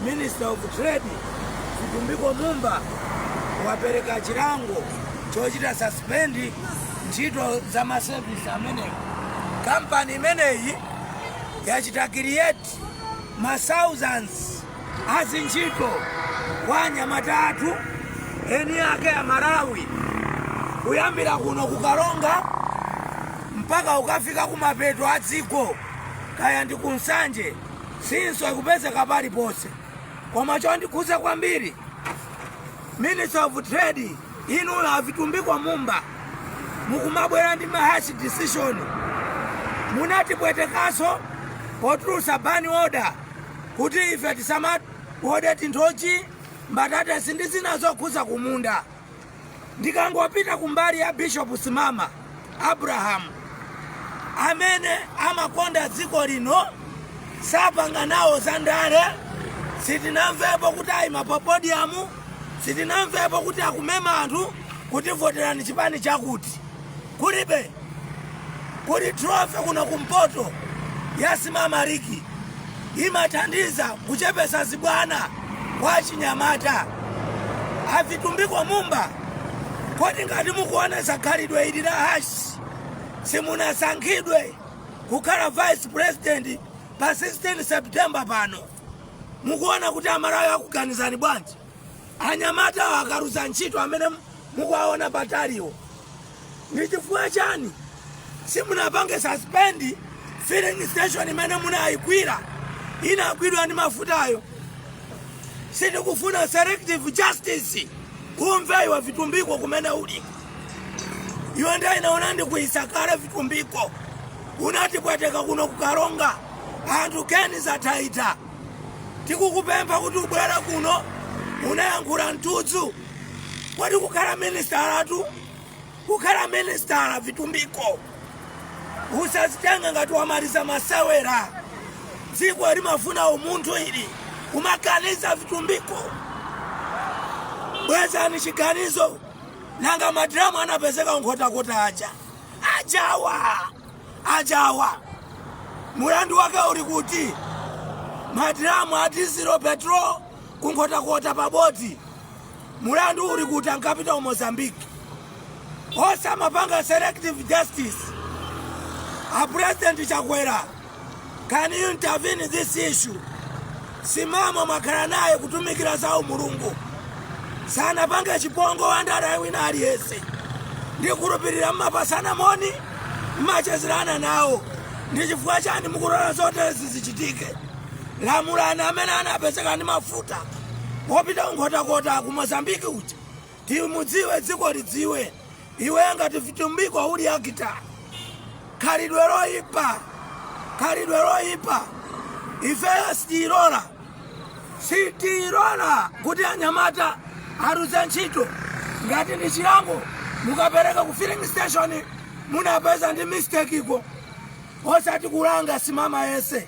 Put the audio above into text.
Minister of Trade Vitumbiko Mumba wapereka chilango chochita suspend ntchito za masevisi amenewo. Kampani imeneyi yachita create ma thousands a ntchito kwa anyamata athu eni ake a Malawi kuyambira kuno kukalonga mpaka ukafika kumapeto a dziko kaya ndi kunsanje Simso ikupezeka paliponse koma chondikhudza kwambiri minister of trade inu a Vitumbiko Mumba mukumabwera ndi mahash decision munatipwetekanso potulutsa ban order kuti ife tisamawode ti nthochi mbatatesi ndi zina zokhudza kumunda ndikangopita kumbali ya bishop simama abrahamu amene amakonda dziko lino sapanga nawo za ndale sitinamvepo kuti ayima pa podium sitinamvepo kuti akumema anthu kuti voterani chipani chakuti Kulibe. Kuli trophy kuno ku mpoto ya Simama League. Imathandiza kuchepesa zibwana kwa achinyamata. A Vitumbiko Mumba. Kodi ngati mukuonesa khalidwe ili la hash simunasankhidwe kukhala vice president pa 16 September pano. Mukuona kuti amalawi akuganizani bwanji? anyamatawo akaluza ntchito amene mukuwaona pataliwo ndi chifukwa chani simunapange suspend filling station imene munayigwira inagwidwa ndi mafutayo sitikufuna selective justice imva iwe vitumbiko kumene uli iwe nda inaona ndi kuisakale vitumbiko unatipweteka kuno kukaronga anthu keni zatayika tikukupempha kuti ubwere kuno unayankhula mtudzu kodi kukhala minisitala tu kukhala minisitala vitumbiko usazitenga ngati wamaliza masewera dziko limafuna umunthu ili kumakaniza vitumbiko bwezani chiganizo nanga madiramu anapezeka nkhotakota aja Ajawa! Ajawa! Mulandu wake uli kuti? Madiramu a dizilo petrol ku Nkhotakota pa boti. Mulandu uli kuti ankapita ku Mozambique? Osamapanga selective justice. A President Chakwera Can you intervene in this issue? Simama mwakhala naye kutumikira za umulungu sanapange chipongwe wandale wina aliyense ndikhulupirira mmapasana moni mmachezerana nawo ndi chifukwa chani mukulola zoterezi zichitike lamulani amene anapezeka ndi mafuta opita ku Nkhotakota ku mozambiki uja Timudziwe dziko lidziwe iwe ngati vitumbiko uli akita khalidwe loyipa khalidwe loyipa ifeyo sitiyilola sitiyilola kuti anyamata aluze ntchito ngati ndi chilango mukapereka ku filling station munapeza ndi mistake iko osati kulanga simama yense